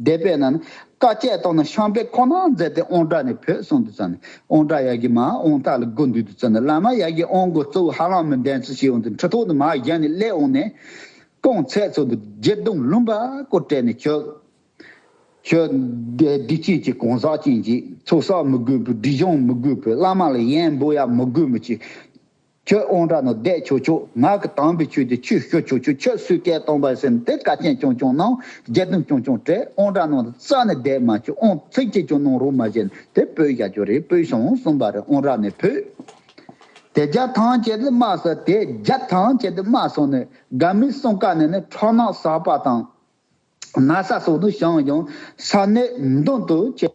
སྡེ་པས་ན་ནི། དཀའ་སྤྱད་རྟོགས་ན་ཤངས་པའི་ཁོག་ན་མཛད་དེ་ཨོང་བྲག་ནས་བུད་སོང་དུ་བཙལ་ནས་ཨོང་བྲག་ཡ་གི་མ་ཨོང་རྟ་ལ་སྒོ་འདུས་དུ་བཙལ་ནས་བླ་མ་ཡ་གི་ཨོང་སྒོ་གཙོ་བོ་ཧ་ལམ་མི་ལྡན་ཚུལ་ཤེས་འོང་དུ་འཁྲུལ་ཐོག་ཏུ་མ་བཞག་ནས་སླེ་འོང་ནས། སྐོང་ཚད་ཚོགས་འདུ་རྗེ་གདུང་ལུང་པ་སྐོར་སྤྲད་ནས་ཁྱོད། ཁྱོད། སྡིག་ཅན་གྱི་གང་ཟག་ཅན་གྱིས་ཚོགས་བསགས་མི་དགོས་པའི་སྒྲིབ་སྦྱོང་མི་དགོས་པའི་བླ་མ་ལ་ཡན་འབོ་ཡ་མི་དགོས་མི་ཅི། ཁྱོད་དབང་དྲག་ན་བཟླས་ཆོག་ཆོག་ངག་གི་དམ་པའི་ཆོས་དེ་ཆུད་བཤོལ་ཆོག་ཆོག་ཁྱོད་སུས་སྐད་གཏོང་པར་སེམས་དེ་ཀ་ཅན་ཀྱང་ཀྱང་གནང་རྒྱ་གདུང་ཀྱང་ཀྱང་དྲས་དབང་དྲག་གནང་རྩ་ནས་བཟླས་མ་ཆོག་དབང་ཚིག་གཅིག་ཀྱང་གནང་རོགས་མ་བྱེད་དེ་བོད་རྒྱ་ཅོ་རེ་བོད་ཞང་གསུམ་པ་རེ་དབང་དྲག་ནས་བོད་དེ་རྒྱ་ཐང་བྱས་ཏེ་མ་སོང་དེ་རྒྱ་ཐང་བྱས་ཏེ་མ་སོང་ནས་དགའ་མི་གསུང་ཀ་ནས་ནི་ཁྲག་ནག་ཟག་པ་དང་ན་ས་སོགས་ནི་ཞང་ཞང་ས་གནས་མདུན་དུ་བྱས།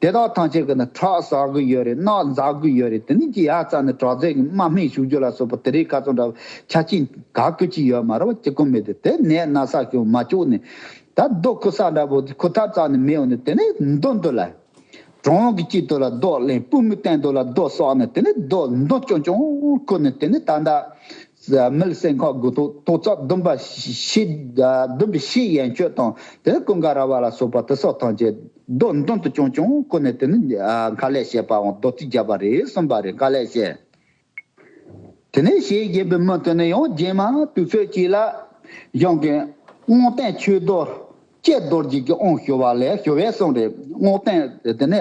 དེ་དག་ཐང་ཆད་གི་ནི་ཁྲག་ཟ་གི་ཡོད་རེད་རྣག་འཛག་གི་ཡོད་རེད་དེ་ནི་ཀྱི་ཡ་རྩ་ནི་དྲག་རྩལ་གི་དམག་སྨན་བཞུགས་རྒྱུ་ལ་སོགས་པ་དེ་རིགས་ཁ་ཚོན་འདྲ་བོ་ཆ་གཅིག་ག་གི་གཅིག་ཡོད་མ་རེད་བ་ཅི་ཀུ་མེད་དེ་དེ་ནས་ན་ས་ཀྱོ་མ་ཀྱོ་ནི་ད་རྡོ་ཁུ་ས་འདྲ་བོ་ཁུ་ཐར་རྩ་ནི་མེ་ཡོ་ནི་དེ་ནི་མདོ་འདོ་ལ། གྲོང་གི་དཀྱིལ་དོ་ལ་རྡོ་གླེང་སྤུ་མི་བསྟན་དོ་ལ་རྡོ་སོགས་ནི་དེ་ནི་རྡོ་མདོ་ཅོ་ཅོ་ཀུ་ནི་དེ་ནི་ད་ད། མིལ་སེང་ཁ་དགུ་ཐོག་ཐོག་རྩ་བདུན་པ་ཕྱི། བདུན་པའི་ཕྱི་ཡན་ཆོད་དང་དེ་ཀུན་དགའ་ར་བ་ལ་སོགས་པ་དེ་སོགས་ཐམས་ཅད་རྡོ་མདུན་དུ་བྱོན་ཀྱང་ཁོ་ནས་དེ་ནི་མཁའ་ལས་བཤད་པའང་རྡོ་རྩིག་བརྒྱ་པ་རེ་གསུམ་པ་རེ་མཁའ་ལས་བཤད། དེ་ནས་ཞེས་བཞེད་པའི་མི་དེ་ནི་ཡང་རྗེས་མ་དུས་ཚོད་ཅིག་ལ། གཞུང་གི། སྔོ་སྟན་ཆོས་རྡོ། ཀྱེ་རྡོ་རྗེ་ཀྱི་དབང་ཞུ་བ་ལས་ཞུ་བའི་གསུང་རེད། སྔོ་སྟན། དེ་ནི།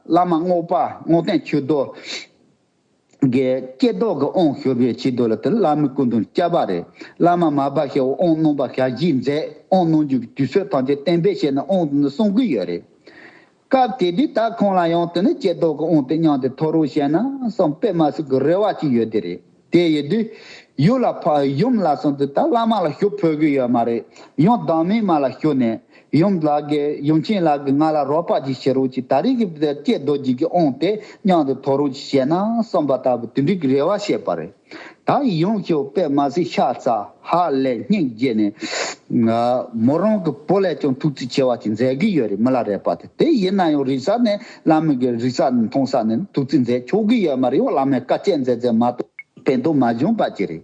བླ་མ་སྔོ་པ་སྔོ་སྟན་ཆོས་རྡོ། གའི་སྐྱེ་རྡོ་གི་དབང་ཤོར་བའི་ཕྱིར་རྡོ་ལ་དེར་བླ་མའི་སྐུ་མདུན་སྐྱ་བ་རེ་བླ་མ་མ་བ་ཤའི་དབང་གནང་པ་ཞག་བཞི་མཛད་དབང་གནང་རྒྱུ་གི་དུས་ཚོད་ཐམས་ཅད་གཏན་འབེབས་བྱས་ནས་དབང་གནང་དུ་སོང་གི་ཡོད་རེད། སྐབས་དེ་དུས་ད་ཁོང་ལ་ཡང་དེ་ནས་སྐྱེ་རྡོ་གི་དབང་དེ་མཉམ་དུ་ཐོར་རོ་བྱས་ན་བསམ་པས་མ་སུ་གི་རེ་བ་ཅིག་ཡོད་དེ་རེད་དེ་ཡོད་དུས་ཡུལ་ལ་ཕ་ཡུམ་ལ་སོང་དུས་ད་བླ་མ་ལ་ཞུ་ཕོད་གི་ཡོད་མ་རེད་ཡང་བདག་མེད་མ་ལ་ཞུ་ནས་ཡུམ་ལགས་ཀྱིས་ཡུམ་ཆེན་ལགས་ཀྱིས་ང་ལ་རོགས་པ་ཅིག་བྱེད་རོགས་ཅིག་ད་རེས་ཀྱི་བུ་དེར་སྐྱེས་རྡོ་རྗེ་ཀྱིས་འོངས་ཏེ་གཡང་དུ་དོར་རོགས་ཅིག་བྱས་ན་གསུངས་པ་ལྟ་བུ་དེ་འགྲིག་གི་རེ་བ་བྱས་པ་རེད། ད་ཡི་ཡུམ་ཁྱེའུ་པད་མ་སེར་ཤ་རྩ་ཧ་ལས་སྙིང་རྗེ་ནས། མོ་རང་གི་བུ་ལས་ཀྱང་ཐུགས་རྩིས་ཆེ་བ་ཅིག་མཛད་གི་ཡོད་རེད་མི་ལ་རས་པ་དེ་དེ་ཡིན་ན་ཡང་རིག་ས་ནས་བླ་མེད་ཀྱི་རིག་ས་མཐོང་ས་ནས་ཐུགས་རྩིས་མཛད་ཆོག་གི་ཡོད་མ་རེད་ཡང་བླ་མས་བཀའ་སྤྱད་མཛད་མཛད་མ་གཏོགས་ཕན་ཐོགས་མ་བྱུང་པ་ཅི་རེད།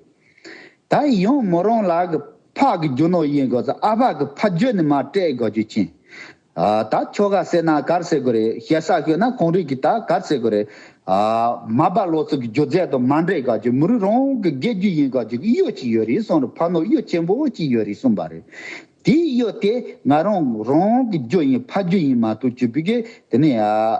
ད་ཡོང་མོ་རང་ལགས་ཀྱི་ཕག་གི་རྒྱུ་ནོར་ཡིན་དགོས་ཚ་ཨ་ཕག་གི་ཕ་རྒྱུ་ནི་མ་སྤྲད་དགོས་རྒྱུ་མཁྱེན། ད་ཁྱོ་ག་སེ་ན་གར་སེ་དགོས་རེད་ཞེ་ས་ཤོད་ན་གོང་རིག་གི་ད་གར་སེ་དགོས་རེད། མ་པ་ལོ་ཚོ་གི་རྒྱུ་རྫས་དང་མ་འདྲེས་དགའ་རྒྱུ་མི་རུ་རང་གི་དགེ་རྒྱུ་ཡིན་དགའ་རྒྱུ་གི་གཡོ་གཅིག་ཡོད་རེད་གསུང་རུ་ཕ་ནོར་གཡོ་ཆེན་པོ་གཅིག་ཡོད་རེད་གསུང་པ་རེད། དེའི་གཡོ་དེ་ང་རང་རང་གི་རྒྱུ་ཡིན་ཕ་རྒྱུ་ཡིན་མ་གཏོགས་ཅི་བུ་གི་དེ་ནི་ཨ།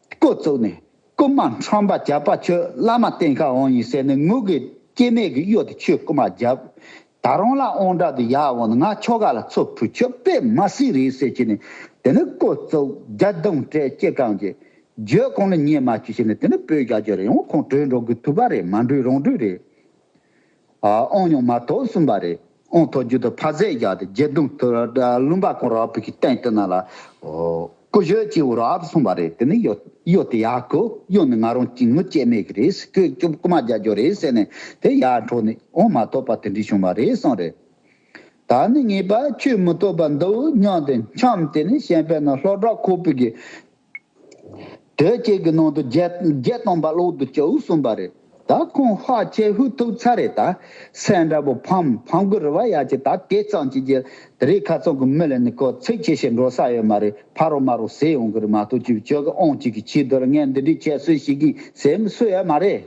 བསྐོར་བཙུགས་ནས་སྐུ་དམག་ཁྲོམ་པ་བརྒྱ་པ་ཁྱོད་བླ་མ་བསྟེན་ཁ་འོང་ཡིན་ཟེར་ནས་ངུ་གེ་སྐྱེ་མེད་ཀྱི་གཡོ་དེ་ཁྱོད་སྐུ་དམག་བརྒྱབ། ད་རང་ལ་ཨོང་དྲག་དུ་ཡག་འོང་ན་ང་ཁྱོ་ག་ལ་ཚོ་ཕུད་ཁྱོད་པད་མ་སྲིད་རེད་ཟེར་གྱིས་ནས་དེ་ནི་བསྐོར་བཙུགས་རྒྱ་གདུང་སྤྲད་སྐྱེ་གང་གྱི་རྒྱོད་གང་ལ་ཉན་མ་བྱུས་ཟེར་ནས་དེ་ནི་བོད་རྒྱ་རྒྱོད་རེད་ཡང་ཁོང་བྲོས་འགྲོ་དགོས་ཐུག་པ་རེད་མ་འགྲོས་རང་འགྲོས་རེད། ཨོང་ཉུང་མ་ཐོག་གསུམ་པ་རེད། ཨོང་ཐོག་རྒྱུད་དུ་ཕ་ཟས་བཞག་སྟེ་རྒྱལ་གདུང་དུ་བླུན་པ་ཁོང་ར་བུ་ཀྱི་སྟེང་དུ་ན་ལ། ཀུ་ཤོད་ཅེས་བོར་ཨབ་སོང་བ་རེད་དེ་ནི་གཡོ་གཡོ་དེ་ཡག་གོ་གཡོ་ནི་ང་རང་གྱིས་ངུ་སྐྱེད་མེད་གི་རེད་ཟེར་ཁོས་སྐྱོབ་རྐུ་མ་རྒྱག་རྒྱུ་རེད་ཟེར་ནས་དེ་ཡར་འཕྲོག་ནས་ཨོང་མ་ཐོག་པ་དེ་འདྲི་བྱུང་བ་རེད་གསུངས་རེད། ད་ནི་ངེས་པར་ཁྱོས་མི་ཐོག་པ་འདི་འུ་མྱངས་ཏེ་འཁྱམས་དེ་ནི་ཤན་པའི་ནང་ལྷོ་བྲག་ཁོག་པུད་ཀྱི། དོལ་རྒྱལ་གྱི་ནང་དུ་བརྒྱད་སྟོང་པ་ལོག་ཏུ་བཅུག་གསུངས་པ་རེད་ད་ཁོང་ཧ་ཅེ་ཧུད་ཐུག་ཚར་རེད་ད་སེར་འདྲ་པོ་ཕམ་ཕམ་གུ་རུ་བ་ཡ་ཅེ་ད་དེ་གཙང་བྱེད་རྒྱལ་དེ་རིགས་ཁ་ཚང་གི་མི་ལ་ནི་གོ་ཚིག་ཆེ་ཞེ་འགྲོ་ས་ཡོད་མ་རེད་ཕ་རོ་མ་རོ་ཟེ་ཡོང་གི་རེད་མ་ཏོག་ཅིག་བྱོས་གི་ཨོང་ཅིག་གི་ཕྱི་དོར་ངས་འདི་འདྲི་བྱས་སུ་ཞིག་གིས་ཟེ་མི་སུ་ཡོད་མ་རེད་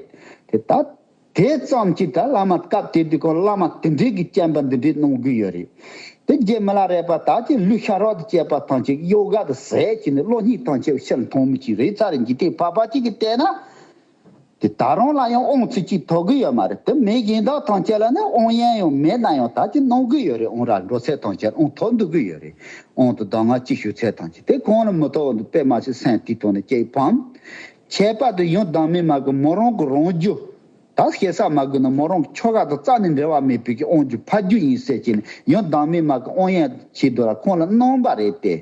དེ་ད། དེ་ཙམ་གྱིས་དགྲ་བླ་མ་སྐབས་དེ་དུས་ཀྱི་བླ་མ་དེ་འདྲས་ཀྱིས་བསྐྱངས་པ་འདི་འདྲས་གནང་དགོས་ཡོད་རེད། དེ་རྗེས་མི་ལ་རས་པ་དག་གིས་གླུ་ཤ་རོགས་དང་བཅས་པ་ཐང་ཆེན་གྱི་གཡོ་ག་དུ་ཟས་ཀྱིས་ནི་བློ་སྙིང་ཐང་ཆད་ཕྱིར་མཐོང་མི་ཅིག་རེད་ཚ་རེད་འཇིག་རྟེན་ཕ་ཕ་གཅིག་གིས་བལྟས་ན། དེ་ད་རུང་ལ་ཡང་ཨོང་ཚིག་ཅིག་ཐོགས་གི་ཡོད་མ་རེད་དེ་མི་གཞན་དག་ཐང་ཆད་ལ་ནི་ཨོང་ཡན་ཡང་མེད་ན་ཡང་དག་ཅིག་གནང་དགོས་ཡོད་རེད་ཨོང་ར་འགྲོ་ཚད་ཐང་ཆད་ཨོང་ཐོགས་འདུག་གི་ཡོད་རེད་ཨོང་དུ་ཟླ་ང་གཅིག་བཞུགས་ཚད་ཐང་ཆད་དེ་གང་ལ་མི་ཐོགས་འདུག་པད་མ་ཞིག་སེང་ཐིག་ཐོགས་ནས་སྐྱེས་ཕམ་ཁྱད་པར་དུ་ཡོན་བདག་མེད་མ་གི་མོ་རང་གི་རང་རྒྱུ། དག་ཤེས་ཟག་མ་གི་ནི་མོ་རང་གི་ཆོ་ག་དང་རྩ་ནི་འབྲལ་བ་མེད་པའི་གི་དབང་རྒྱུ་ཕ་རྒྱུ་ཡིན་ཟེར་བྱས་ནས་ཡོན་བདག་མེད་མ་གི་དབང་ཡན་ཆད་དུ་ལ་ཁོང་ལ་སྣང་བ་རེད་དེ།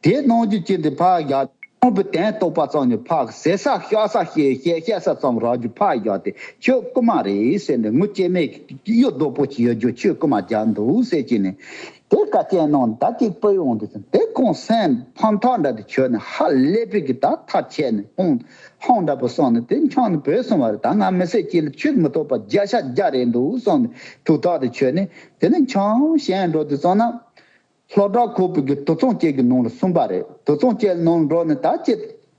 དེ་སྣང་རྒྱུ་ཅན་དེ་ཕག་གི། ཁོང་གི་དན་རྟོགས་པ་ཙམ་ནི་ཕག་གི་ཟས་ཟ་ཤ་ཟ་ཤེས་ཡོད་ཤེས་ཤ་ཟ་ཙམ་རག་རྒྱུ་ཕག་གི་དེ་ཆོས་སྐུ་མ་རེད་ཟེར་ནས་ངུ་སྐྱེ་མེད་གི་གཡུ་རྡོག་པོ་ཆེ་ཡོད་རྒྱུ་ཆོས་སྐུ་མ་རྒྱག་འདུག་ཟེར་བྱས་ནས། དེ་བཀའ་སྤྱན་གནང་ཟླ་གཅིག་པོ་ཡོང་དུ་སོང་དེ་ཁོང་སེམས་ཕམ་ཐག་འདྲ་དུ་ཁྱོད་ནི་ཧ་ལས་པོ་གི་ད་ཐག་ཆད་ནས་ཁོང་ཧང་འདྲ་པོ་སོང་ནས་དེ་འཁྱང་ནས་བུད་སོང་བ་རེད་ད་ང་མི་སེར་སྐྱིད་ལ་ཆུད་མི་ཐོག་པ་བརྒྱ་ཤ་བརྒྱ་རེད་འདུག་སོང་ནས་དུ་ཐག་དེ་ཁྱོད་ནི་དེ་ནས་འཁྱང་ཞན་འགྲོ་དུ་སོང་ན། ལྷོ་བྲག་ཁུག་པོ་གི་དུ་ཚང་སྐྱེལ་གི་ནང་ལ་སོང་པ་རེད་དུ་ཚང་སྐྱེལ་གནང་འགྲོ་ནས་ད་ཅི་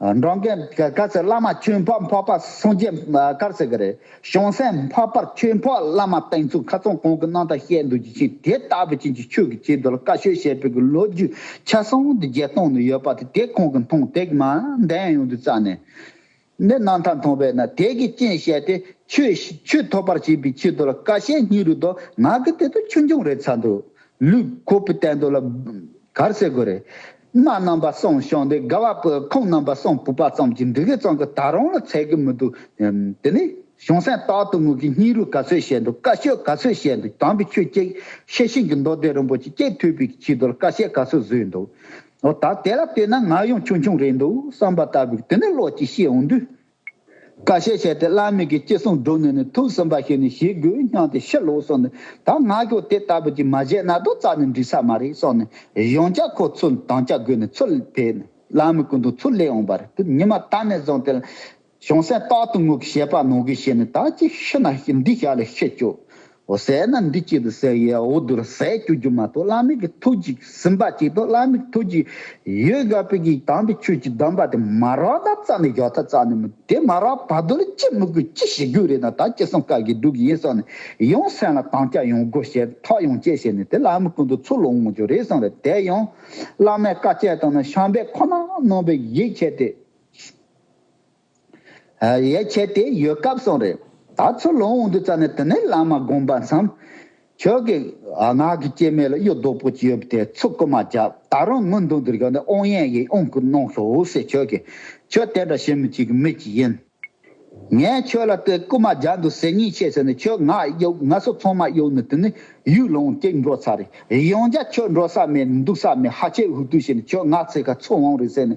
འབྲོང་རྒན་དཀར་ཟས་བླ་མ་ཆོས་འཕགས་འཕགས་པ་སངས་རྒྱས་དཀར་ཟས་ཀྱི་རེད་བྱང་སེམས་འཕགས་པར་ཆོས་འཕགས་བླ་མ་བསྟན་ཚུལ་ཁ་ཚོན་གང་གི་སྣང་དང་བཤད་འདོད་ཀྱི་ཆེད་དེ་ལྟ་བུ་ཅན་གྱི་ཆོས་ཀྱི་ཆེད་དུ་ལ་བཀའ་ཆོས་བཤད་ཕོད་ཀྱི་ལོ་རྒྱུས་ཆ་ཚང་དུ་བརྒྱད་སྟོང་ནི་ཡོད་པ་དེ་དེ་གང་གི་མཐོང་ཐེག་མ་ལྡན་ཡོང་དུ་བཙལ་ནས་ནི་སྣང་མཐའ་མཐོང་བས་ན་དེ་གི་རྐྱེན་བཤད་དེ་ཆོས་ཐོབ་པར་བྱེད་པའི་ཆེད་དུ་ལ་བཀའ་བཤད་སྙིང་རུས་དང་ངག་གི་དེ་དུ་ཆོས་འབྱུང་རེད་ཚར་འདུག་ལུས་ཁོ་བོས་བསྟན་དོ་ལ་དཀར་ཟས་གོ་རེད། མ་རྣམ་པ་གསུམ་བྱུང་སྟེ་དགའ་བ་པོའི་ཁམས་རྣམ་པ་གསུམ་བུག་པ་ཙམ་གྱི་འབྲི་གུའི་གཙང་གི་ད་རུང་ལ་ཚད་གི་མི་འདུག་དེ་ནི། གཞུང་སེང་སྟག་གཏུ་མུག་གི་སྙིང་རུས་ག་ཚོད་བཤད་འདུག་བཀའ་ཆོས་ག་ཚོད་བཤད་འདུག་དམ་པའི་ཆོས་སྐྱེས་ཤེས་ཤིང་གི་མདོ་སྡེ་རིན་པོ་ཆེ་སྐྱེས་ཐུབ་པའི་ཕྱི་དོར་བཀའ་བཤད་ག་ཚོད་བཟོས་འདུག་ཨོ་ད་དེ་ལ་ལྟོས་ན་ང་ཡང་ཆུང་ཆུང་རེད་འདུག་བསམ་པ་ལྟ་བུའི་དེ་ནི་བློ་གཅིག་ཤེས་འོང་དུས་ཀ་བཤད་བྱས་ཏེ་བླ་མེད་ཀྱི་སྐྱེ་གསུམ་བསྒྲུབས་ནས་ནི་ཐུགས་སུན་པ་ཞིག་ནི་ཞི་རྒོལ་བསྙངས་ཏེ་ཕྱིར་ལོག་སོང་ནས་ད་སྔ་ཁྱོད་དེ་ལྟ་བུ་ཅིག་མ་བཞེས་ན་རྡོ་རྩ་ནི་འགྲིག་ས་མ་རེད་སོགས་ནས་གཞུང་བཅའ་ཁོ་ཚོས་མདང་སྐྱ་བགོས་ནས་ཚུར་ཕེབས་ནས་བླ་མའི་སྐུ་མདུན་ཚུར་སླེབས་འོངས་པ་རེད་དེ་ཉི་མ་ད་ནས་བཟུང་སྟེ་གཞུང་སེམས་རྟག་ཏུ་ངུ་གི་བཤད་པ་ནོར་གི་བྱས་ནས་ད་ཅིག་ཤི་ན་འདི་ཞག་ལས་ཤི་ཆོག་འོ་བསད་ན་འདི་སྐྱིད་དུ་བསད་ཡའོ་བསྡུར་ཟས་སྐྱུ་རྒྱུ་མ་གཏོགས་བླ་མིག་གི་ཐུགས་ཅིག་ཟིན་པ་ཅིག་གཏོགས་བླ་མིག་གི་ཐུགས་ཅིག་ཡོད་དགའ་པོ་གིས་དང་པའི་ཆོས་ཀྱི་གདམས་པ་དེ་མ་རག་ད་རྩ་ནས་ཞོག་ད་རྩ་ནས་མི་དེ་མ་རག་བར་དུ་ལ་ཅི་མི་དགོས་ཅི་བྱེད་རྒྱུ་རེད་ན་ད་ཅི་གསུང་བཀག་གིས་སྡུག་གི་ཡིན་སོགས་ནས་ཡང་སེམས་ལ་དང་སྐྱ་ཡོང་དགོས་ཞེས་ཐག་ཡང་བཅད་བྱས་ནས་དེ་བླ་མི་ཀུན་ཏུ་ཚུར་ལོག་འོང་རྒྱུ་རེད་གསུངས་པས་དེ་ཡང་བླ་མས་བཀའ་བཅད་དང་ན་ཤངས་པས་ཁོ་ན་ནོངས་པའི་ཡིད་ཆེས་ཏེ། ཡས་ཁྱེད་དེ་ཡོད་སྐབས་སོང་རེད་ད་ཚུར་ལོང་འོང་དུས་ཙམ་ནས་དེ་ནས་བླ་མ་དགོངས་པ་མཚམས། ཁྱོད་ཀྱི་ངག་གི་སྐྱེ་མེད་ལ་གཡུ་རྡོག་པོ་ཅི་ཡོད་པ་དེ་ཚུར་བསྐུར་མ་བྱ་ད་རུང་དངུལ་མདུང་དུ་རྒྱོགས་ནས་དབོན་ཡས་ཡིད་དབང་གིས་གནང་ཞོག་ཟེར་ཁྱོད་ཀྱིས་ཁྱོད་དེ་འདྲ་བྱེད་མི་བྱེད་ཀྱི་མི་ཅིག་ཡིན། ངས་ཁྱོད་ལ་དེ་བསྐུར་མ་བྱ་འདུག་ཟེར་ཉེས་ཆད་བྱས་ནས་ཁྱོད་ངག་གཡོགས་ང་སོ་ཚང་མ་གཡོགས་ནས་དེ་ནས་ཡུལ་ལོང་སྐྱེས་འགྲོ་ཚར་རེད་ཡོང་རྒྱ་ཁྱོད་འགྲོ་ས་མེད་འདུག་ས་མེད་ཧ་ཅེ་ཧུ་ཏུ་བྱས་ནས་ཁྱོད་ངག་ཚིག་ག་ཚོད་འོང་རེད་ཟེར་ནས་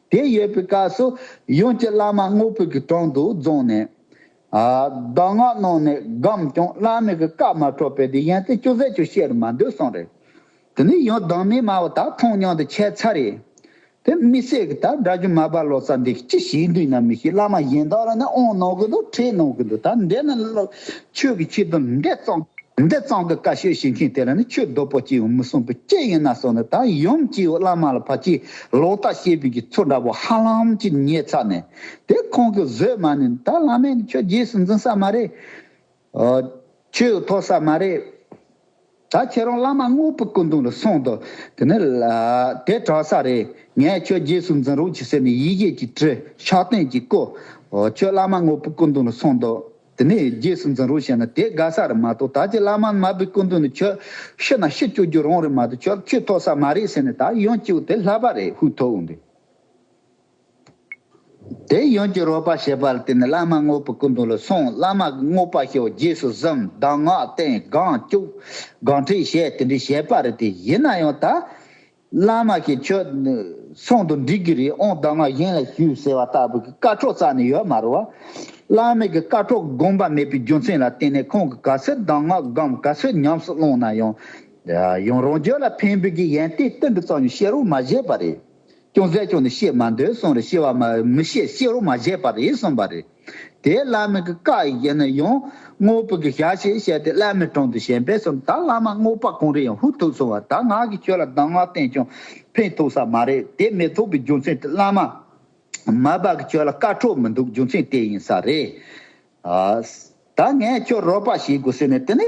དེ་ཡོད་པའི་སྐབས་སུ་ཡུམ་གྱི་བླ་མ་དངོས་པོ་གྱི་དྲུང་དུ་རྫོང་ནས། གདམས་ངག་གནང་ནས་སྒོམས་ཀྱང་བླ་མེད་ཀྱི་སྐབས་མ་འཕྲོག་པས་དེ་ཡན་ཚེ་བཅུ་ཟད་ཆུ་བཤལ་རུ་མ་འདོད་གསུངས་རེད། དེ་ནས་ཡང་སྡང་མིག་དམར་བོ་དག་མཐོང་སྙིང་དུ་ཆས་ཚར་རེད། དེ་མི་ཟད་ཀྱི་དག་དགྲ་ཆུང་མ་རྦ་ལོ་ཙཱ་འདི་ཅི་ཞིག་འདུག་ན་མི་ཤེས་བླ་མ་གཞན་དག་ལ་ནི་དབང་གནང་གི་འདུག་ཁྲེལ་གནང་གི་འདུག་ད་འདི་ནི་ཆོས་ཀྱི་ཆེད་དུ་འདི་གཙང་འདི་གཙང་གི་བཀའ་ཤོད་བྱེད་མཁན་དེ་ལ་ནི་ཆོས་རྡོ་པོ་སྐྱེས་བུ་མི་གསུངས་པའི་སྐྱེས་ཡིན་ན་གསུངས་ནས་ད་ཡུམ་སྐྱེས་བུ་བླ་མ་ལ་ཕ་ཁྱེད་ལོག་ལྟ་བཤད་དུས་ཀྱི་ཚུལ་འདྲ་པོ་ཧ་ལམ་གྱིས་རྙེད་ཚར་ནས་དེར་ཁོང་གིས་བཟོད་མ་ནས་ད་བླ་མས་ནི་ཁྱོད་རྗེས་སུ་འཛིན་ས་མ་རེད། ཆོས་ཐོབ་ས་མ་རེད། ད་ཁྱེད་རང་བླ་མ་དངོས་པོའི་སྐུ་མདུན་ལ་སོང་དུ་དེ་ནི་དེ་དྲག་ས་རེད་ངས་ཁྱོད་རྗེས་སུ་འཛིན་རོགས་གྱིས་ཟེར་ནས་ཡིད་ཆེས་ཀྱིས་དྲིལ་ཕྱག་རྟེན་གྱིས་བསྐོས། ཁྱོད་བླ་མ་དངོས་པོའི་སྐུ་མདུན་ལ་སོང་དུ། དེ་ནས་རྗེས་སུ་འཛིན་རོགས་བྱས་ན་དེ་དགའ་ས་རེད་མ་གཏོགས་ད་ཅི་བླ་མ་དམར་པོའི་སྐུ་མདུན་ནས་ཁྱོད་ཤི་ན་ཤི་སྐྱོ་རྒྱུ་རང་རེད་མ་གཏོགས་ཁྱོད་ཁྱོད་ཐོག་ས་མ་རེད་ཟེར་ནས་ད་ཡོང་སྐྱིའོ་དེ་ལྷ་པ་རེད་ཧུད་ཐོག་འོང་དུས་དེ་ཡོང་སྐྱི་རོགས་པ་བྱས་པ་ལ་དེ་ནས་བླ་མ་དངོས་པོའི་སྐུ་མདུན་ལ་སོང་བླ་མ་གི་དངོས་པ་ཤོག་རྗེས་སུ་གཟིམ་གདམས་ངག་བསྟན་སྒང་སྐྱུག་སྒང་ཁྲིད་བྱས་དེ་འདྲས་བྱས་པ་རེད་དེ་ཡིན་ན་ཡང་ད། བླ་མ་ཞིག་ཁྱོད་ཚོང་དུ་འགྲིག་གི་རེད་ཨོང་བདག་མ་གཞན་ལ་ཞུ་ཟེར་བ་ལྟ་བུ་གི་བཀའ་ཁྲོག་རྩ་ནས་ཡོད་མ་རུང་བ། བླ་མེད་ཀྱི་བཀའ་ཁྲོག་དགོངས་པ་མེད་པའི་རྒྱུ་མཚན་ལ་བརྟེན་ནས་ཁོང་གི་ག་ཚོད་གདམས་ངག་སྒམ་ག་ཚོད་ཉམས་སུ་བླངས་ན་ཡང། ཡང་རང་རྒྱུད་ལ་ཕན་འབུལ་གྱི་ཡན་ཏན་ཏིལ་འབྲུ་ཙམ་ཡང་བཤད་རོགས་མ་བཞེས་པ་རེད། ཅུང་ཟད་ཅུང་ནས་བཤད་མ་འདོད་གསུངས་རེ་ཤི་བ་མི་བཤད་བཤད་རོགས་མ་བཞེས་པ་རེད་གསུངས་པ་རེད། དེས་བླ་མའི་གི་བཀའ་ཡི་གཞན་ན་ཡང། དངོས་པོ་གི་ཞག་ཞེས་བཤད་དེ་བླ་མའི་དྲུང་དུ་ཞལ་འབེབས་སོང་ད་བླ་མ་དངོས་པ་གང་རེ་ཡང་ཧུ་ཐུག་སོང་བ་ད་ང་གི་ཁྱོད་ལ་གདམས་ངག་བསྟན་ཀྱང་ཕན་ཐོག་ས་མ་རེད་དེ་མི་ཐོག་པའི་རྒྱུ་མཚན་དེ་བླ་མ། མ་བབ་གི་ཁྱོད་ལ་བཀའ་འཁྲོལ་མི་འདུག་རྒྱུ་མཚན་དེ་ཡིན་ས་རེད། ད་ངས་ཁྱོད་རོགས་པ་བྱེད་དགོས་ཟེར་ནས་དེ་ནས།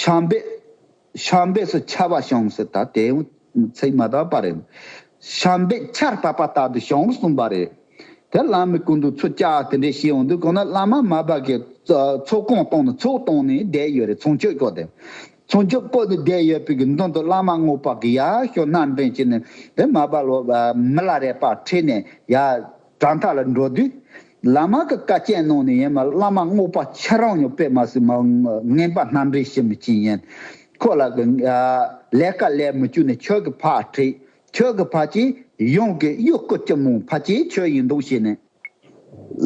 ཤངས་པས། ཤངས་པས་སུ་ཆ་བ་ཤངས་སུ་ད་དེ་ཚིག་མ་དག་པ་རེད། ཤངས་པས་ཆར་བབས་པ་ལྟ་བུ་ཤངས་སུ་གསུངས་པ་རེད། དེ་བླ་མའི་སྐུ་མདོག་ཚོ་སྐྱ་དེ་འདྲས་ཤེས་ཡོང་དུས་གོང་ན་བླ་མ་མ་བབས་ཀྱི་ཚོགས་སྐོང་བཏང་ནས་ཚོགས་བཏང་ནས་བསྡད་ཡོད་རེད་ཚོང་ཆོས་སྐོར་དེ། ཚོང་ཆོས་སྐོར་དེ་བསྡད་ཡོད་པའི་མདུན་དུ་བླ་མ་སྔོ་པག་གི་ཡ་ཞོ་སྣ་འདྲེན་བྱས་ནས་དེ་མ་བབས་ལོ་མི་ལ་རས་པ་ཁྲིད་ནས་ཡ། དྲ་མཐའ་ལ་འགྲོ་དུས་ལ་མ་གི་བཀའ་སྐྱེལ་གནང་ནས་ཡན་མ་བླ་མ་རྔོག་པ་ཁྱེད་རང་ཉོག་པད་མ་སི་མ་ངན་པ་སྣ་འདྲེ་ཤི་མི་ཅིན་ཡན་ཁོ་ལ་གི་ལས་ཀ་ལས་མི་ཅུ་ནས་ཁྱོད་གི་ཕ་ཁྲི་ཁྱོད་གི་ཕ་ཅི་ཡོང་གི་གཡུག་སྐུ་སྐྱི་མོང་ཕ་ཅི་ཁྱོད་ཡིན་འདུག་བྱས་ནས་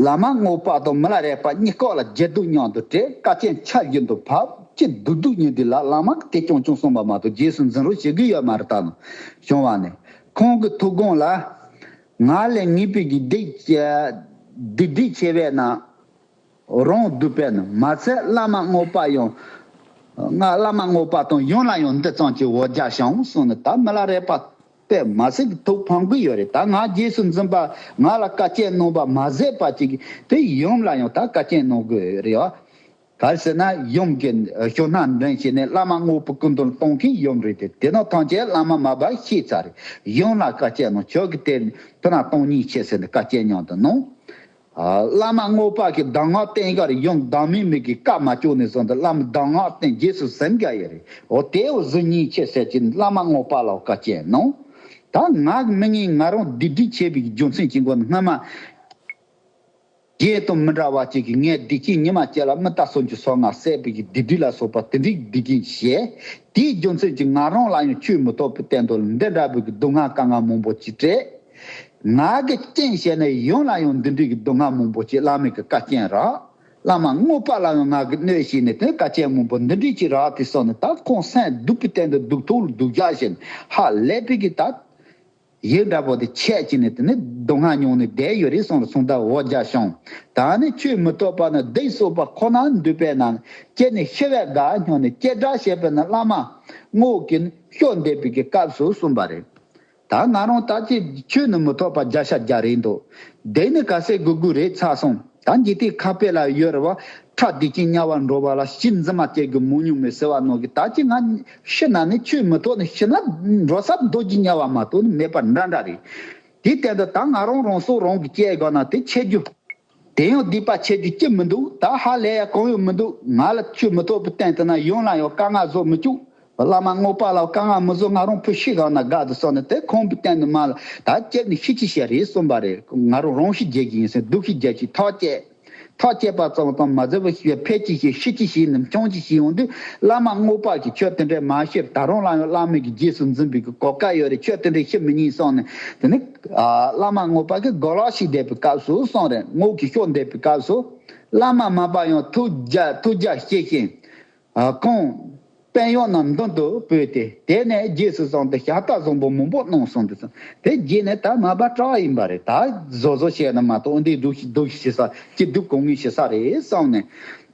བླ་མ་རྔོག་པ་དང་མི་ལ་རས་པ་གཉིས་ཀོག་ལ་རྒྱལ་སྡུག་མྱང་དུ་བྲེ་བཀའ་སྐྱེལ་འཆར་རྒྱུན་དུ་ཕ་ཅི་སྡུག་སྡུག་ཉིན་དུས་ལ་བླ་མ་གི་དེ་གྱོང་གྱོང་གསུངས་པ་མ་གཏོགས་རྗེས་སུ་འཛིན་རོགས་བྱེད་གི་ཡོད་མ་རེད་ད་ནང་བྱུང་བ་ནས་ཁོང་གི་ཐུགས་དགོངས་ལ་ང་ལས་ངེས་དཔེ་ཀྱི་སྡིག་སྒྲིབ་ཆེ་བས་ན། རང་བསྡུས་པས་ནི་མ་ཚད་བླ་མ་དངོས་དཔའ་ཡང། བླ་མ་དངོས་དཔའ་དང་ཡོན་ལ་ཡང་འདི་ཙམ་གྱིས་འོ་བརྒྱག་བྱའོ་གསུངས་ནས་ད་མི་ལ་རས་པ་པས་མ་ཟེར་གྱི་ཐུགས་ཕམ་གྱི་ཡོད་རེད་ད་ང་རྗེས་སུ་འཛིན་པ་ང་ལ་བཀའ་སྐྱེལ་གནང་པ་མ་ཟད་པ་ཅིག་གིས་དེ་ཡུམ་ལ་ཡང་ད་བཀའ་སྐྱེལ་གནང་དགོས་རེད་བ། ག་ཟེར་ན་ཡུམ་གྱི་གཞུང་སྣ་འདྲེན་བྱས་ནས་བླ་མ་དངོས་པོ་སྐུ་མདུན་གཏོང་མཁན་ཡུམ་རེད་དེ་དེ་ནོ་ཐང་ཆད་བླ་མ་མ་བར་ཤེས་ཚར་རེད་ཡུམ་ལ་བཀའ་སྤྱད་ནོ་ཆོག་གི་དེ་ཕུ་ན་སྟོང་ཉིད་ཆད་ཟེར་ནས་བཀའ་སྤྱད་མྱང་དུ་གནང། བླ་མ་དངོས་པ་གི་གདམས་ངག་བསྟན་ཁར་ཡུམ་བདག་མེད་མེད་གི་བཀའ་མ་བཅོ་ནས་བཟུང་དུ་བླ་མ་གདམས་ངག་བསྟན་རྗེས་སུ་གཟིམ་དགའ་ཡི་རེད་འོ་དེའི་བོ་གཟུགས་ཉིད་ཆད་ཟེར་གྱི་བླ་མ་དངོས་པ་ལ་བཀའ་སྤྱད་གནང། ད་ངག་མི་ཉན་ང་རང་བདུད་སྡིག་ཆེ་བའི་རྒྱུ་མཚན་གྱི་མགོ་ནས་སྔོན་མ། རྒྱས་དང་མི་འདྲ་བ་གཅིག་གིས་ངས་བདེ་སྐྱིད་ཉི་མ་བསྐྱལ་ལ་མི་ལྟ་སོ་འཇུ་སོ་ང་ཟས་སྤུས་ཀྱི་བདེ་སྡུག་ལ་སོགས་པ་དེ་འགྲིག་འདི་འགྲིག་ཞེས། དེའི་རྒྱུ་མཚན་གྱིས་ང་རང་ལ་ཡང་ཆོས་མི་ཐོག་པའི་བསྟན་དོན་འདི་འདྲ་བོ་གི་སྡུག་བསྔལ་དཀའ་ངལ་མང་པོ་ཅིག་སྤྲད། ང་གི་རྐྱེན་བཤད་ནས་ཡོངས་ལ་ཡང་འདི་འདྲིག་གི་སྡུག་བསྔལ་མང་པོ་ཅིག་བླ་མེད་གི་བཀའ་རྐྱེན་རག། བླ་མ་དངོས་པ་ལ་ཡང་ང་གི་གནོད་བྱེད་ནི་དེ་བཀའ་རྐྱེན་མང་པོ་འདི་འདྲིག་ཅིག་རག་དེ་སོགས་ནས་ད་ཁོང་སེང་སྡུག་པའི་སྟེང་དུ་སྡུག་ཐུག་ལ་སྡུག་རྒྱག་བཞིན་ཧ་ལས་པའི་གི་ད། ཡིག་འདྲ་པོ་དེ་ཆད་ཅིག་ནས་དེ་ནི་སྡུག་བསྔལ་མྱོང་ནས་བསྡད་ཡོད་རེད་སོང་ལ་སོང་ད་འོ་རྒྱ་ཤོང། ད་ནི་ཁྱོད་མི་ཐོབ་པ་ན་བསྡད་གསོལ་བ་ཁོ་ན་འདུས་པས་ན་ཁྱེད་ནི་ཤི་བའི་དགའ་སྙོགས་ནས་སྐྱེ་དགྲ་བྱེད་པས་ན་བླ་མ། སྔོ་གིན་ཤོག་འདས་པའི་གི་སྐབས་སུ་གསུངས་པ་རེད། ད་ང་རང་ལྟ་ཅི་ཁྱོད་ནི་མི་ཐོབ་པ་བརྒྱ་ཤ་བརྒྱ་རེད་འདུག་བསྡད་ནི་ག་ཟེ་གུ་གུ་རེད་ཚར་སོང་ད་འཇིག་རྟེན་ཁ་དཔེ་ལ་ཡོད་རེ་བ་ཁྲག་དེ་བྱིན་དམྱལ་བར་འགྲོ་བ་ལ་ཤིང་རྫི་མ་སྐྱེ་དགོས་མོ་ཉུང་མོས་ཟེར་བ་ནང་གི་ད་ཅི་ང་ཕྱི་ནང་ནི་ཆོས་མི་རྟོག་ནི་ཕྱི་ན་འགྲོ་ས་རྡོ་རྗེ་དམྱལ་བ་མ་གཏོགས་ནི་མེད་པ་འདྲ་འདྲ་རེད། དེའི་སྟེང་དུ་ད་ང་རང་རང་སྲོག་རང་གིས་བཅད་དགོས་ན་དེ་འཆད་རྒྱུ། དེ་ཡང་སྡིག་པ་བྱས་རྒྱུ་ཅི་མི་འདུག་ད་ཧ་ལས་ཡ་གང་ཡང་མི་འདུག་ང་ལ་ཆོས་མི་རྟོག་པའི་སྟེང་དུ་ན་ཡང་ལ་ཡང་དཀའ་ངལ་བཟོ་མི་བཅུག་བླ་མ་དངོས་པ་ལ་དཀའ་ངལ་མི་བཟོ་ང་རང་ཕོ་ཤི་གང་ན་དགའ་འདུག་སོང་ནས་དེ་ཁོང་གི་སྟེང་དུ་མ་ལ་ད་བཅད་ནས་ཤི་ཅི་བྱེད་རེད་གསུངས་པ་རེད་ང་རང་རང་ཤི་རྒྱལ་གྱི་ཡིན་སའི་སྡུག་ཤི་རྒྱལ་ཞིག་ཐག་བཅད། ཐག་བཅད་པ་ཙམ་ཙམ་མ་ཟེར་བར་ཤི་བའི་ཕས་ཅི་ཤེས་ཤི་ཅི་ཤེས་ནམ་བྱུང་ཅི་ཤེས་ཡོང་དུས་བླ་མ་དངོས་དཔག་གིས་ཆོས་དེ་འདྲའི་མ་ཤེས་ད་རུང་སླང་ཡོང་སླང་མོད་ཀྱི་རྗེས་སུ་འཛིན་པའི་གོ་སྐལ་ཡོད་རེད་ཆོས་དེ་འདྲའི་ཤེས་མི་ཉན་སོང་ནས་དེ་ནི། བླ་མ་དངོས་དཔག་གིས་དགོད་ལག་ཤིག་བསྡད་པའི་སྐབས་སུ་སོང་རེད་ངོ་གིས་ཤོག་འདེབས་པའི་སྐབས་སུ། བླ་མ་མ་དཔག་ཡང་ཐུགས་རྒྱ་ཐུགས་རྒྱ་བསྐྱེད་ཤེས། རྐང་པའི་གཡོག་རྣམས་མདུན་དུ་སྤོས་ཏེ་དེད་ནས་རྗེས་སུ་བཟང་སྟེ་ཤ་སྟག་བཟང་པོ་མང་པོ་གནང་གསུངས་འདུག་གསུངས། དེ་རྗེས་ནས་ད་མ་པ་ཀྲའོ་ཡིན་པ་རེད་ད་བཟོ་བཟོ་བྱས་ན་མ་གཏོགས་འོན་ཏེ་སྡུག་སྡུག་བྱེད་ས་སྐྱིད་སྡུག་གང་ངེས་བྱེད་ས་རེད་བསམ་ནས་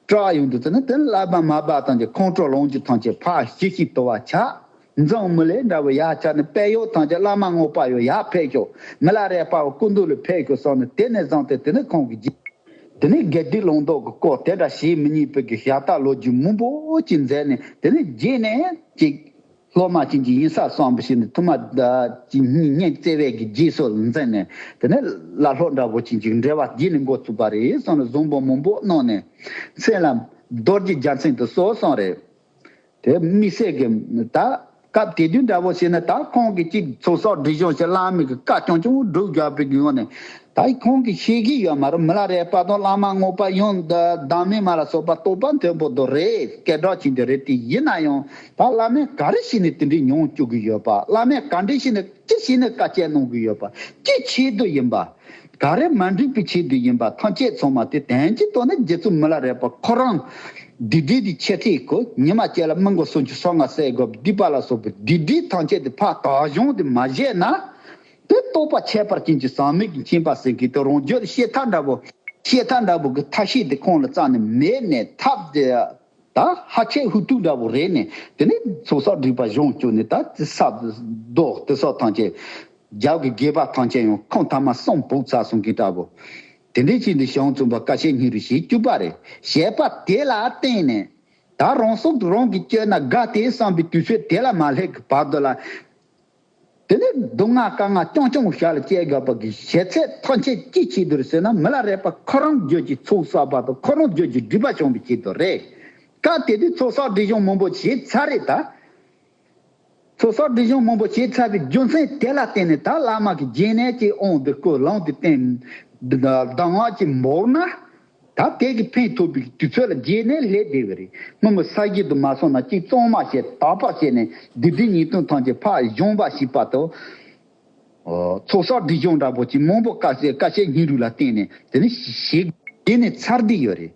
ཀྲའོ་ཡོང་འདུག་ཚུལ་ནི་དེ་ལ་མ་པ་དང་གི་ཁོང་ཀྲོ་ལོངས་ཀྱི་ཐང་ཆད་ཕག་བྱི་ཞིག་དོར་བར་ཆགས། མཛངས་མི་ལས་འདྲ་བའི་ཡ་ཆ་ནི་དཔལ་ཡོ་དང་ཀྱི་བླ་མ་དངོས་པ་ཡོ་ཡ་ཕེད་ཤོ་མི་ལ་རས་པའོ་སྐུ་མདུན་ལ་ཕེད་ཤོ་སོགས་ནི་དེ་ནས་བཟང་སྟེ་དེ་ནི་ཁོང་གི་རྗེས་དེ་ནས་དགེ་སྡིག་ལུང་རྟོགས་ཀྱི་སྐོར་དེ་འདྲ་ཞིག་མི་གཉིས་པོད་ཀྱི་ཞབས་རྟ་ལོ་རྒྱུས་མུན་པོ་ཅིག་མཛད་ནས་དེ་ནས་རྗེས་ནས་ཅིག། སློབ་མ་བྱིན་གྱིས་དབྱིངས་ས་གསང་བུ་ཞིག་ནི་ཐུ་མ། ཅིག་གཉིས་གཉེན་བརྩེ་བས་ཀྱི་རྗེས་སོགས་ལ་མཛད་ནས་དེ་ནས་བླ་ལྷོ་འདྲ་བོ་ཅིག་ཅིག་འབྲེལ་བ་བགྱིས་ནས་འགོ་ཚུགས་པ་རེད་སོང་ནས་གཟུངས་འབོག་མུན་པོ་གནང་ནས། མཚན་ལ། རྡོ་རྗེ་རྒྱ་མཚན་དུ་སོགས་སོང་རེད། དེ་མི་སྲིད་ཀི། ད་སྐབས་དེ་དུས་འདྲ་བོ་བྱས་ན་ད་ཁོང་གི་གཅིག་ཚོགས་གསོག་སྒྲིག་གཞུང་ཞིག་བླ་མེད་ཀི་བཀའ་སྐྱོང་ཅུང་སྒྲུབ་རྒྱག་པའི་དགོས་ངོ་ནས་ད་ཁོང་གི་ཤེས་ཀི་ཡོད་མ་རུང་མི་ལ་རས་པ་དང་བླ་མ་དངོས་པ་ཡང་བདག་མེད་མ་ལ་སོགས་པ་རྟོག་པ་མཐོན་པོ་དོ་རེད་སྐད་སྒྲག་ཆེན་དོ་རེད་དེ་ཡིན་ན་ཡང་ད་བླ་མས་ག་རེ་བྱས་ནས་དེ་འདྲས་མྱོང་བཅུག་གི་ཡོད་པ་བླ་མས་ག་འདྲས་བྱས་ནས་ཅི་བྱས་ནས་བཀའ་སྐྱེལ་གནང་གི་ཡོད་པ་ཅི་ཆེད་དུ་ཡིན་པ། ག་རེ་མ་འགྲིག་པའི་ཆེད་དུ་ཡིན་པ་ཐང་ཆད་ཚང་མ་དེ་དན་གྱིས་དོ་ན་རྒྱལ་ཚུགས་མི་ལ་རས་པ་ཁོ་རང་བདུད་སྡེ་དེའི་ཆེ་ཁྲེས་གོ་ཉི་མ་བཅད་ལ་མི་མགོ་སོ་ཆུ་སོ་ང་སེ་གོ་བདུད་པ་ལ་སོགས་པའི་བདུད་སྡེའི་ཐང་ཆད་དེ་ཕ་དག་གཞུང་དེ་མ་བཞེས་ན་དེ་རྟོགས་པ་ཁྱད་པར་ཅན་གྱི་ཟག་མེད་ཀྱི་མཁྱེན་པ་ཟེར་གི་དེ་རང་བརྗོད་ཤེས་མཐའ་འདྲ་བོ་ཤེས་མཐའ་འདྲ་བོ་གི་མཐའ་ཤེས་དེ་ཁོང་ལ་རྩ་ནས་མེད་ནས་ཐབས་དེ་ད་ཧ་ཆེ་ཧུ་ཏུག་འདྲ་བོ་རེད་ནས་དེ་ནས་ཚོགས་བསགས་སྒྲིག་པ་གཞུང་བཅུ་ནས་ད་ཙི་སྲབ་རྡོ་ཏི་སོགས་ཐང་ཆད། རྒྱབ་ཀྱི་སྒལ་པ་ཐང་ཆད་ཡང་ཁོང་ཐ་མ་སྲོང་བུག་ཚ་གསུང་མཁན་འདྲ་བོ། དེ་འདྲའི་ཕྱིར་འདི་ཞང་བཙུན་པ་ཀ་ཤའི་སྙིང་རུས་ཞེས་བཅུ་པ་རེད་བཤད་པ་དེ་ལ་བརྟེན་ནས། ད་རང་སྲོག་རང་གིས་གཅོད་ན་དགའ་སྟེ་བསམ་པའི་དུས་ཚོད་དེ་ལ་མ་སླེབས་ཀྱི་བར་དུ་ལ། དེ་ལས་སྡུག་བསྔལ་དཀའ་ངལ་ཅུང་ཅུང་བཞག་ལ་སྐྱེ་དགོས་པ་གི་ཞེ་ཚད་ཐོག་མཆན་ཅི་བྱེད་དུ་རེད་ཟེར་ན་མི་ལ་རས་པ་ཁོ་རང་རྒྱོད་ཀྱི་ཚོགས་བསགས་པ་དང་ཁོ་རང་རྒྱོད་ཀྱི་སྒྲིབ་པ་བྱུང་བའི་ཆེད་དུ་རེད། སྐབས་དེ་དུས་ཚོགས་བསགས་སྒྲིབ་གཞུང་མང་པོ་བྱས་ཚར་རེད་ད། ཚོགས་བསགས་སྒྲིབ་གཞུང་མང་པོ་བྱས་ཚར་བའི་རྒྱུ་མཚན་དེ་ལ་བརྟེན་ནས་ད་བླ་མ་གི་སྦྱིན་གནས་ཀྱི་དབང་དུ་སྐུ་བླངས་དེ་བསྟན། གདམས་ངག་གི་འབོར་ན། ད་ལྟའི་གི་ཕན་ཐོགས་པའི་དུས་ཚོད་ལ་རྗེས་ནས་སླེབས་བསྡད་པ་རེད་སྔོན་མ་ས་སྐྱིད་དུ་མ་སོང་ན་གཅིག་གཙང་མ་བྱས་དག་པ་བྱས་ནས་སྡེ་འདི་ཉིས་སྟོང་ཐང་ཆེ་ཕག་གཞོང་འབའ་ཞིག་བར་དུ། ཚོགས་བསགས་སྒྲིག་སྦྱོང་འདྲ་པོ་ཅིག་མང་པོ་དཀའ་སེ་དཀའ་སེ་ཉིན་རུ་ལ་བརྟེན་ནས་དེ་ནི་བྱེད། དེ་ནི་ཚར་བསྡད་ཡོད་རེད།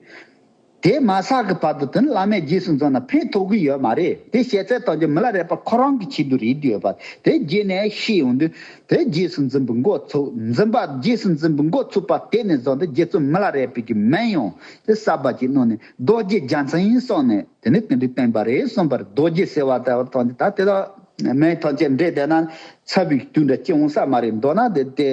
དེ་མ་བསགས་གི་བར་དུ་དེ་ནི་བླ་མའི་རྗེས་སུ་འཛོམས་ན་ཕན་ཐོགས་གི་ཡོད་མ་རེད་དེ་བཤད་ཚད་དང་རྗེས་མི་ལ་རེ་བར་ཁོ་རང་གི་ཆེད་དུ་རེད་འདོད་པ་དེ་རྗེས་ནས་ཤེས་ཡོང་དུས། དེ་རྗེས་སུ་འཛིན་པའི་འགོ་ཚུགས། འཛིན་པ་རྗེས་སུ་འཛིན་པའི་འགོ་ཚུགས་པ་དེ་ནས་བཟུང་སྟེ་རྗེ་བཙུན་མི་ལ་རས་པས་ཀྱི་མན་ཡོང་དེ་གསར་པ་ཅིག་བསྣུར་ནས་རྡོ་རྗེ་རྒྱ་མཚན་ཡིན་གསུངས་ནས་དེ་ནས་དེ་འདྲའི་བསྟན་པ་རེད་གསུངས་པར་རྡོ་རྗེ་ཟེར་བ་དེ་བར་ཐོགས་འདི་ད་དེ་དག་མན་ཐང་བཅས་འདྲེས་བསྡད་ན་ཚ་བའི་དུས་འདྲ་སྐྱེ་འོང་ས་མ་རེད་མདོར་ན་དེ་ལྟའི་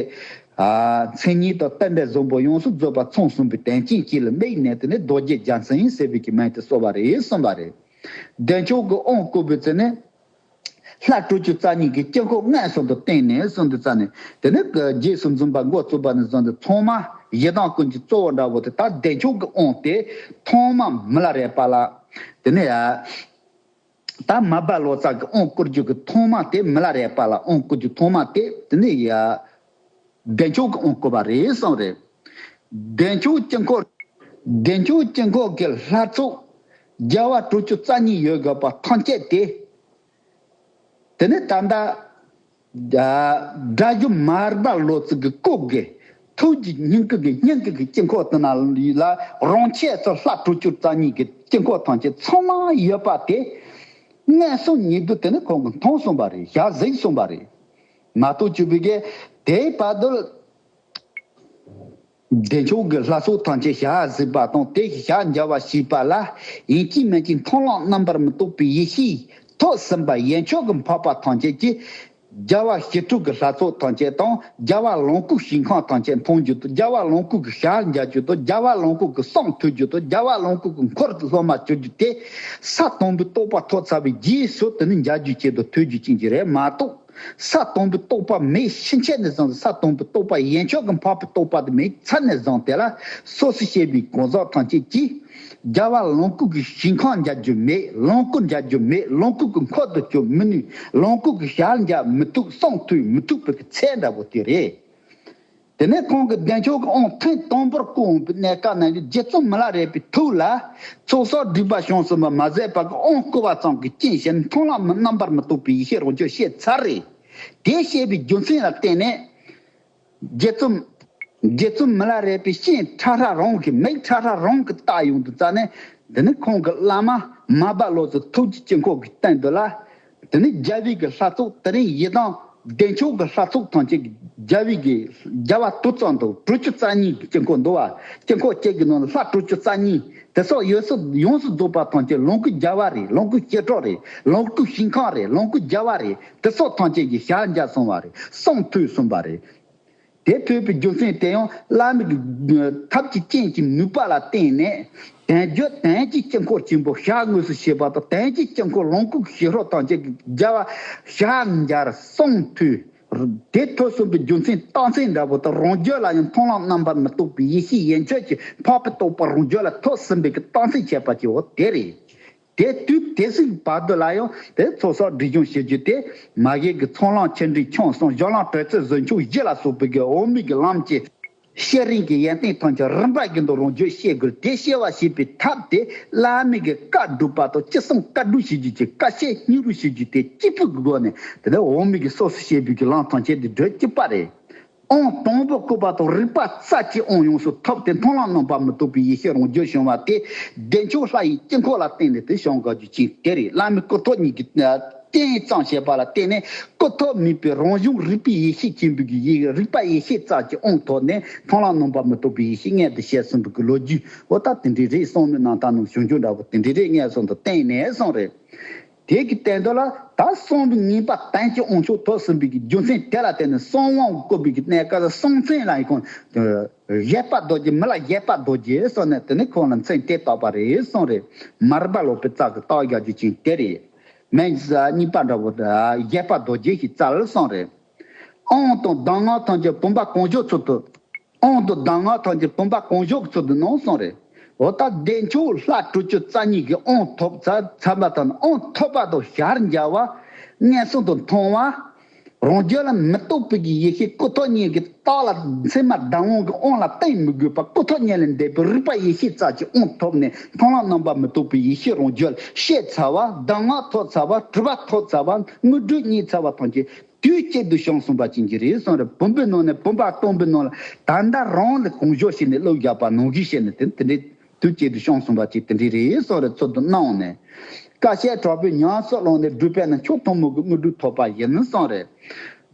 མཚན་ཉིད་དང་བསྟན་པའི་བཟང་པོ་ཡོངས་སུ་རྫོགས་པ་མཚུངས་གསུངས་པའི་དོན་རྐྱེན་གྱིས་ལ་དམིགས་ནས་དེ་ནས་རྡོ་རྗེ་རྒྱ་མཚན་ཡིན་ཟེར་བས་ཀྱི་མན་དེ་གསོལ་བ་རེད་གསུངས་པ་རེད་བདེ་མཆོག་གི་དབང་བསྐུར་བའི་ཚེ་ནས། ལྷ་སྤྲུལ་བཅུ་རྩ་གཉིས་ཀྱིས་དཀྱིལ་འཁོར་ལྔའི་ཟུང་དུ་བསྟན་ནས་སུམ་དུ་བཙའ་ནས་དེ་ནས་རྗེས་སུ་འཛུམ་པ་མགོ་བཙུགས་པ་ནས་བཟུང་སྟེ་ཐོག་མར་ཡི་དམ་ཀུན་གྱི་གཙོ་བོ་འདྲ་བོ་དེ་དག་བདེ་མཆོག་གིས་དབང་སྟེ་ཐོག་མར་མི་ལ་རས་པ་ལ། དེ་ནས་ད་མ་སྦ་ལོ་ཙཱ་གིས་དབང་བསྐུར་རྒྱུ་གི་ཐོག་མ་སྟེ་མི་ལ་རས་པ་ལ་དབང་བསྐུར་རྒྱུ་ཐོག་མ་སྟེ་དེ་ནས་བདེ་མཆོག་གི་དབང་བསྐུར་བ་རེ་ཟུང་རེ། བདེ་མཆོག་དཀྱིལ་འཁོར། བདེ་མཆོག་དཀྱིལ་འཁོར་གྱི་ལྷ་ཚོགས་རྒྱལ་བ་དྲུག་ཅུ་རྩ་གཉིས་ཡོད་དགོས་པ་ཐམས་ཅད་དེ། དེ་ནས་ད་ལྟ། སྒྲ་སྒྱུ་མ་རིག་པ་ལོ་ཙཱ་གི་སྐུ་དགེ་ཐུགས་ཀྱི་སྙིང་གི་གི་སྙིང་གི་གི་དཀྱིལ་འཁོར་དུ་ན་ལ་རང་ཆས་སུ་ལྷ་དྲུག་ཅུ་རྩ་གཉིས་ཀྱི་དཀྱིལ་འཁོར་ཐམས་ཅད་ཚང་མ་ཡོད་པ་དེ། མངལ་གསུམ་ཉིད་དུ་དེ་ནི་ཁོང་གི་མཐོང་གསུངས་པ་རེ་བཞག་གཟིགས་གསུངས་པ་རེ། ང་སྟོད་སྤྱི་བོའི་རྒྱལ། དེའི་དཔའ་རྡུལ། བདེ་མཆོག་གི་ལྷ་ཚོགས་ཐམས་ཅད་ཞགས་གཟིགས་པ་དང་དེ་བཞིན་ཞགས་འཇའ་བ་ཞིག་པ་ལ། ཡིན་གྱི་མིན་གྱི་མཐོང་ལམ་རྣམ་པར་མི་རྟོག་པའི་ཡེ་ཤེས། ཐོས་ཟིན་པ་ཡན་ཆོད་ཀྱི་འཕགས་པ་ཐམས་ཅད་ཀྱིས། རྒྱལ་བ་ཞི་ཁྲོ་གི་ལྷ་ཚོགས་ཐམས་ཅད་དང་རྒྱལ་བ་ལོངས་སྐུའི་ཞིང་ཁམས་ཐམས་ཅད་མཐོང་རྒྱུ་དང་རྒྱལ་བ་ལོངས་སྐུ་གི་ཞགས་འཇའ་རྒྱུ་དང་རྒྱལ་བ་ལོངས་སྐུ་གི་གསུང་ཐོས་རྒྱུ་དང་རྒྱལ་བ་ལོངས་སྐུ་གི་འཁོར་དུ་སློབ་མ་བྱོན་རྒྱུ་དེ། ས་དང་པོའི་རྟོགས་པ་ཐོག་ཚ་བའི་རྗེས་སུ་དེ་ནི་འཇའ་རྒྱུ་ཅན་དང་ཐོས་རྒྱུ་ཅན་གྱི་རེད་མ་གཏོགས། ས་དང་པོའི་རྟོག་པ་མེའི་ཕྱིན་ཆད་ནས་བཟུང་སྟེ་ས་དང་པོའི་རྟོག་པ་ཡན་ཆོག་གི་འཕགས་པའི་རྟོག་པ་དེ་མེའི་མཚན་ནས་བཟུང་སྟེ་ལ་སོགས་སུ་བཤད་པའི་གང་ཟག་ཐམས་ཅད་ཀྱིས། རྒྱལ་བ་ལོངས་སྐུ་གི་ཞིང་གང་མཇལ་རྒྱུ་མེད་ལོངས་སྐུ་མཇལ་རྒྱུ་མེད་ལོངས་སྐུ་གི་འཁོར་དུ་བསྐྱོད་མི་ནུས་ལོངས་སྐུ་གི་ཞར་མཇལ་མི་ཐུབ་གསང་ཐུབ་མི་ཐུབ་པའི་ཚད་འདྲ་བོ་དེ་རེད། དེ་ནས་ཁོང་གི་བདེ་མཆོག་གི་ཨོང་ཐིང་སྟོང་པོར་སྐུ་འོངས་པའི་གནས་སྐབས་ན་ཡུལ་རྗེ་བཙུན་མ་ལ་རས་པའི་ཐུགས་ལ། ཚོགས་བསགས་སྒྲིབ་པ་བྱང་སེམས་པ་མ་ཟད་པ་གི་ཨོང་བསྐུལ་བ་ཙམ་གྱིས་སྐྱེ་བཞིར་མཐོང་ལམ་མི་རྣམ་པར་མི་རྟོག་པའི་ཡེ་ཤེས་རོ་གཅོད་ཤེས་ཚར་རེ། དེ་བཤད་པའི་རྒྱུ་མཚན་ལ་བརྟེན་ནས། རྗེ་བཙུན། རྗེ་བཙུན་མི་ལ་རས་པའི་ཤིང་ཁྲ་ཁྲ་རོང་གི་མིག་ཁྲ་ཁྲ་རོང་གི་རྟགས་ཡོང་དུ་བཙལ་ནས། འདི་ནི་ཁོང་གི་བླ་མ། མ་སྦ་བློ་བཟོའི་ཐུགས་ཀྱི་དཀྱིལ་འཁོར་གྱི་སྟེང་དུ་ལ། དེ་ནས་རྒྱལ་བུས་ཀྱི་ལྷ་ཚོགས་དེ་རིང་ཡི་དམ་བདེ་མཆོག་གི་ལྷ་ཚོགས་ཐམས་ཅད་རྒྱལ་བུས་ཀྱི་རྒྱལ་བ་དུར་གཙང་དུ་དྲུག་ཅུ་རྩ་གཉིས་ཀྱི་དཀྱིལ་འཁོར་འདུ་བ་དཀྱིལ་འཁོར་བཅས་ཀྱི་ནང་ལ་ལྷ་དྲུག་ཅུ་རྩ་གཉིས་དེ་སོགས་ཡོད་སོགས་ཡོངས་སུ་རྫོགས་པ་ཐམས་ཅད་ལོངས་སྐུའི་རྒྱལ་བ་རེད་ལོངས་སྐུའི་ཞལ་གྲོགས་རེད་ལོངས་སྐུའི་ཞིང་ཁམས་རེད་ལོངས་སྐུའི་རྒྱལ་བ་རེད་དེ་སོགས་ཐམས་ཅད་ཀྱི་ཞལ་མཇལ་གསུང་བ་རེད་གསུང་ཐོས་གསུངས་པ་རེད། དེ་ཐོས་པའི་རྒྱུ་མཚན་དེ་ཡང་བླ་མེད་ཐབས་ཀྱི་རྐྱེན་གྱི་ནུས་པ་ལ་བརྟེན་ནས། དོན་བརྒྱུད་དོན་གྱི་དཀྱིལ་འཁོར་ཆེན་པོ་ཞག་དངོས་སུ་བྱེད་པ་དང་དོན་གྱི་དཀྱིལ་འཁོར་ལོངས་སྐུ་ཞི་ཁྲོ་ཐམས་ཅད་ཀྱི་རྒྱལ་བ་ཞག་འགྱར་གསུངས་མཐུས། དེ་ཐོས་གསུངས་པའི་རྒྱུ་མཚན་རྟགས་མཚན་འདྲ་བོ་དང་རང་རྒྱུད་ལ་ཡང་མཐོང་ལམ་རྣམ་པར་མི་རྟོག་པའི་ཡེ་ཤེས་ཡན་ཆོད་ཀྱི་འཕགས་པའི་རྟོགས་པ་རང་རྒྱུད་ལ་ཐོས་ཟིན་པའི་རྟགས་མཚན་འཆད་པ་ཀྱིའོ་དེ་རེད། དེ་དུས་དེ་སྲིད་བར་དུ་ལ་ཡང་དེ་ཚོ་སོགས་སྒྲིག་སྦྱོང་བྱེད་རྒྱུ་དེ། མ་གཞི་གི་ཚོང་ལང་ཆེ་འབྲིང་ཆུང་གསུམ་གཞོགས་ལང་གྲོལ་རྩེ་བཟོ་མཆོག་བཞི་ལ་སོགས་པའི་གི་འོས་མིག་གི་ལམ་གྱི། བཤད་རིན་གྱི་ཡན་ཏན་ཐམས་ཅད་རིམ་པར་གྱི་མདོ་རང་བརྗོད་བཤད་དགོས་དེ་བཤད་བ་ཞེས་པའི་ཐབས་དེ་བླ་མེད་གི་བཀའ་བསྒྲུབ་པ་དང་ཅི་གསུང་བཀའ་བསྒྲུབ་བྱེད་རྒྱུ་གྱི་བཀའ་བཤད་སྙིང་རུས་བྱེད་རྒྱུ་དེ་གཅིག་པུ་གི་སྒོ་ནས་དེ་ནས་འོས་མིག་གི་སོ་སོ་བཤད་པའི་གི་ལམ་ཐམས་ཅད་དེ་བགྲོད་ཀྱི་པ་རེད། ཨོང་དང་པོ་བཀོད་པ་དང་རིག་པ་རྩ་གཅིག་ཨོང་ཡོངས་སུ་ཐོབ་སྟེ་མཐོང་ལམ་རྣམ་པར་མི་རྟོག་པའི་ཡེ་ཤེས་རང་རྒྱུད་བྱུང་བ་དེ་བདེ་མཆོག་ལྷ་ཡི་དཀྱིལ་འཁོར་ལ་བརྟེན་ནས་དེ་བྱང་ག་རྒྱུད་ཅིག་དེ་རིང་བླ་མའི་སྐུ་ཐོག་ཉིད་ཀྱི་རྟེན་གཙང་བྱས་པ་ལ་བརྟེན་ནས་སྐུ་ཐོག་མིན་པའི་རང་བྱུང་རིག་པའི་ཡེ་ཤེས་ཆེན་པོའི་རྒྱུད་ཡིག་རིག་པ་ཡེ་ཤེས་རྩ་གཅིག་ཨོང་ཐོག་ནས་མཐོང་ལམ་རྣམ་པར་མི་རྟོག་པའི་ཡེ་ཤེས་ལྔས་འདི་བཤད་གསུངས་པའི་གི་ལོ་རྒྱུས་འོ་ད་དེ་འདྲའི་རེད་གསང་མོད་ནང་ད་ནང་བྱུང་ཆོག་འདྲ་པོ་དེ་འདྲའི་རེད་ངས་གསང་དང་བརྟེན་ནས་གསང་རེད། དེས་ཀྱི་བསྟན་དོན་ལ་ད་གསང་བའི་ངེས་པ་བསྟན་ཅིང་དབང་ཕྱུག་ཐོབ་ཟིན་པའི་ཀྱི་རྒྱུ་མཚན་དེ་ལ་བརྟེན་ནས་གསང་དབང་བསྐུར་བའི་ཀྱི་གནད་བཀའ་ལ་གསང་མཚན་ལ་ཡི་ཁོང་གཞལ་བར་རྡོ་རྗེ་མི་ལ་གཞལ་བར་རྡོ་རྗེ་གསུངས་ནས་དེ་ནས་ཁོང་ལ་མཚན་དེ་བཏགས་པ་རེད་གསུངས་རེད་མ་རིག་པ་ལོག་པའི་རྩ་གི་རྟགས་རྒྱ་རྒྱུ་ཅན་དེ་རེད་མན་ཇི་སྲ་གཉིས་པ་འདྲ་བོ་གཞལ་བར་རྡོ་རྗེ་ཞེས་བཙལ་གསུངས་རེད་ཨང་དང་གདམས་ངག་ཐམས་ཅད་བུམ་པ་གང་བྱོ་ཚུལ་དུ། གོང་དུ་གདམས་ངག་ཐམས་ཅད་བུམ་པ་གང་བཞུགས་ཚུལ་དུ་གནང་གསུངས་རེད། འོ་ད་བདེ་མཆོག་ལྷ་དྲུག་ཅུ་རྩ་གཉིས་ཀྱི་དབང་ཐོབ་རྩ་ཚང་པ་དང་དབང་ཐོབ་པ་དང་ཞར་འཇའ་བ། སྙན་གསུང་དང་མཐོང་བ། རང་རྒྱུད་ལ་མི་རྟོག་པའི་གི་ཡེ་ཤེས་སྐུ་ཐོག་བརྙེས་ཀྱི་རྟགས་ལ་མཚན་མ་བདག་དབང་གི་དབང་ལ་བརྟེན་མི་དགོས་པར་སྐུ་ཐོག་བརྙེས་ལས་འདས་པའི་རིག་པ་ཡེ་ཤེས་རྩ་གཅིག་དབང་ཐོབ་ནས་མཐོང་ལམ་རྣམ་པར་མི་རྟོག་པའི་ཡེ་ཤེས་རང་རྒྱུད་ལ་ཤེས་ཚར་བ་གདམས་ངག་ཐོབ་ཚར་བ་སྤྲུལ་པ་ཐོབ་ཚར་བ་དངོས་གྲུབ་བརྙེས་ཚར་བ་ཐམས་ཅད་དུས་གཅིག་ཏུ་བྱང་གསུམ་པ་བྱིན་གྱིས་རེ་ཟུང་རེ་བུམ་པའི་ནང་ནས་བུམ་པ་སྟོང་པའི་ནང་ལ་ད་ལྟ་རང་ལ་གང་ཞོག་བྱས་ནས་བློ་རྒྱག་པ་ནང་གིས་བྱས་ནས་དེ་དེ་འདྲའི་དུས་གཅིག་ཏུ་བྱང་གསུམ་པ་གཅིག་དེ་འདྲའི་རེ་ཟུང་རེ་ཚུལ་དུ་སྣང་ནས། བཀའ་བཤད་དྲག་པོའི་ཉམས་སུ་བླངས་ནས་སྒྲུབ་པས་ན་མཆོག་གཏུམ་མོ་གི་དངོས་གྲུབ་ཐོབ་པ་ཡིན་གསུངས། རེ་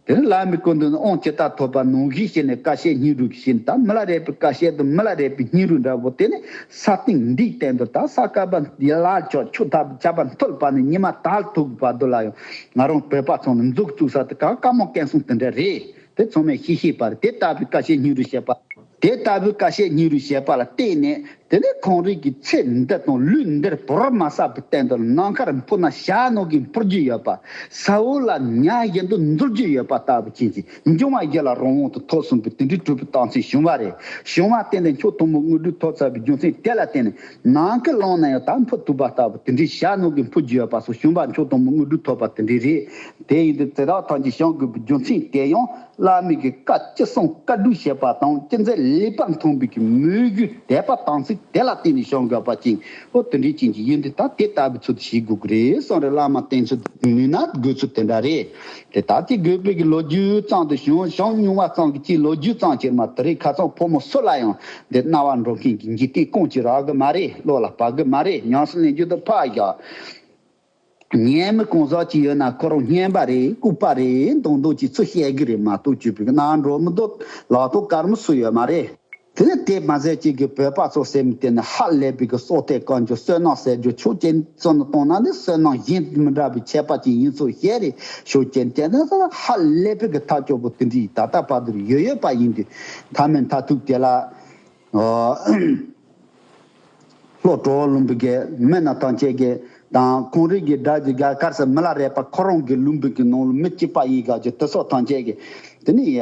དེ་ནས་བླ་མའི་སྐུ་མདུན་ནས་དབང་ཇི་ལྟར་ཐོབ་པ་ནང་གིས་བྱས་ནས་བཀའ་བཤད་སྙིང་རུས་ཀྱི་ཤིང་དང་མི་ལ་རས་པའི་བཀའ་བཤད་དང་མི་ལ་རས་པའི་སྙིང་རུས་འདྲ་བོ་དེ་ནི་ས་སྟེང་འདིའི་སྟེང་དུ་དང་ས་དཀར་པོ་འདི་ལ་ཆོག་ཆོག་ཐབས་བྱ་བ་འཐོལ་པ་ནི་ཉི་མ་དལ་དུག་པ་དུ་ལ་ཡང་ང་རང་བོད་པ་ཚོ་ནི་མཛོག་བཙུགས་ས་དེ་ག་དཀའ་མོ་སྐད་གསུང་དེ་འདྲ་རེད་དེ་ཚང་མས་ཤེས་ཤེས་པར་དེ་ལྟ་བུའི་བཀའ་བཤད་སྙིང་རུས་བཤད་པ། དེ་ལྟ་བུའི་བཀའ་བཤད་སྙིང་རུས་བཤད་པ་ལ་བརྟེན་ནས་དེ་ནས་གངས་རི་གི་ཚེ་འདི་དང་ལུས་འདིར་བོར་མ་ས་བུ་བསྟན་དུ་ནམ་མཁར་འཕུར་ན་ཞྭ་ནོར་གིས་འཕུར་རྒྱུ་ཡོད་པ། ས་འོག་ལ་ཉག་བཞི་མདོ་འཛུལ་རྒྱུ་ཡོད་པ་ལྟ་བུ་བྱིན་གྱིས་འབྱུང་བ་བརྒྱད་ལ་རང་དབང་དུ་ཐོག་གསུམ་པོའི་དེ་འདྲའི་གྲུབ་པའི་རྟགས་མཚན་བྱུང་བ་རེད་བྱུང་བ་བརྟེན་ནས་མཆོག་གཏུམ་མོ་དངོས་གྲུབ་ཐོབ་ཚར་བའི་རྒྱུ་མཚན་དེ་ལ་བརྟེན་ནས་ནང་གི་ཀློང་ན་ཡང་དག་འཕོ་བཏུབ་པ་ལྟ་བུ་དེ་འདྲའི་ཞྭ་ནུ་གི་འཕོ་བརྒྱུད་པ་སོགས་ཞུམ་པ་མཆོག་དང་མོ་དངོས་གྲུབ་ཐོབ་པ་དེ་འདྲའི་རེད། དེ་ཡིན་དུས་ཚེ་རག་ཐང་ཆེན་ཞང་དགོན་པའི་རྒྱུ་མཚན་དེ་ཡང་བླ་མེད་ཀྱི་བཀའ་ཅི་གསུང་བཀའ་བསྡུ་བྱེད་པ་དང་ཅི་མཛད་ལེགས་པར་མཐོང་བས་ཀྱི་མོས་གུས་དད་པ་དམ་ཚིག་དེ་ལ་བརྟེན་ནས་ཞང་དགོན་པ་ཅན་ཨོ་དེ་འདྲའི་ཅན་གྱི་ཡུལ་འདི་དག་དེ་ལྟ་བུའི་ཚུལ་དུ་བྱེད་དགོས་ཀྱི་རེད་གསུང་རེ་བླ་མ་བསྟེན་ཚུལ་ནུས་ན་དགོས་ཚུལ་དེ་འདྲ་རེད། དེ་ལྟར་གྱི་སྒོས་བོད་ཀྱི་ལོ་རྒྱུས་གཙང་དུ་ཞུན་ཞང་བསྙུང་བ་ཙམ་གྱི་སྤྱིའི་ལོ་རྒྱུས་གཙང་བྱེད་མ་དེ་རིགས་ཁ་ཚང་ཕོ་མོ་སུ་ལ་ཡང་འདི་རྣ་བར་འགྲོ་མཁན་གྱི་འཇིག་རྟེན་དཀོན་ཅིག་རག་གི་མ་རེད་བློ་ལ་བབ་གི་མ་རེད་ཉམས་སུ་ལེན་རྒྱུ་དང་ཕག་བཞག་ཉེས་མི་གང་ཟག་ཅིག་ཡོད་ན་ཁོ་རང་སྙན་པ་རེད་ལྐུག་པ་རེད་མདོག་མདོག་ཅིག་ཚུར་བཤད་གི་རེད་མ་གཏོགས་བྱུས་བོད་ཀྱི་གནའ་འབྲོག་མི་དོ་ལག་ཏུ་དཀར་མོ་སུ་ཡོད་མ་རེད། དེ་ནས་དེས་མ་ཟད་གཅིག་གིས་བོད་པ་ཚོ་སེམས་གཏད་ནས་ཧ་ལས་པའི་གི་སོ་ཐའི་བཀའ་འགྱུར་བསོད་ནམས་ཟེར་རྒྱུ་ཆོས་ཅན་བཙོན་ནང་གཏོང་ན་ནི་བསོད་ནམས་གཞན་མི་འདྲ་བའི་ཆད་པ་ཅིག་ཡིན་ཚུལ་བཤད་རེས་ཤུགས་ཆེན་བྱས་ནས་སོང་ཧ་ལས་པའི་གི་ཐ་སྐྱོ་པོ་དེ་འདྲའི་ད་ལྟ་བར་དུར་ཡོད་ཡོད་པ་ཡིན་དུས་མཐའ་མའི་མཐའ་ཐུག་དེ་ལ་ཨོ། ལྷོ་གྲོ་བོ་ལུམ་བུ་གའི་མི་རྣམས་ཐང་ཆད་གི་དང་གུང་རིགས་གི་དགྲ་གི་ག་གར་སི་མི་ལ་རས་པ་ཁོ་རང་གི་ལུམ་བུ་གི་ནང་ལ་མི་གཅིག་པ་ཡིན་ག་གི་དི་སོགས་ཐང་ཆད་གི་དེ་ནི་ཡ།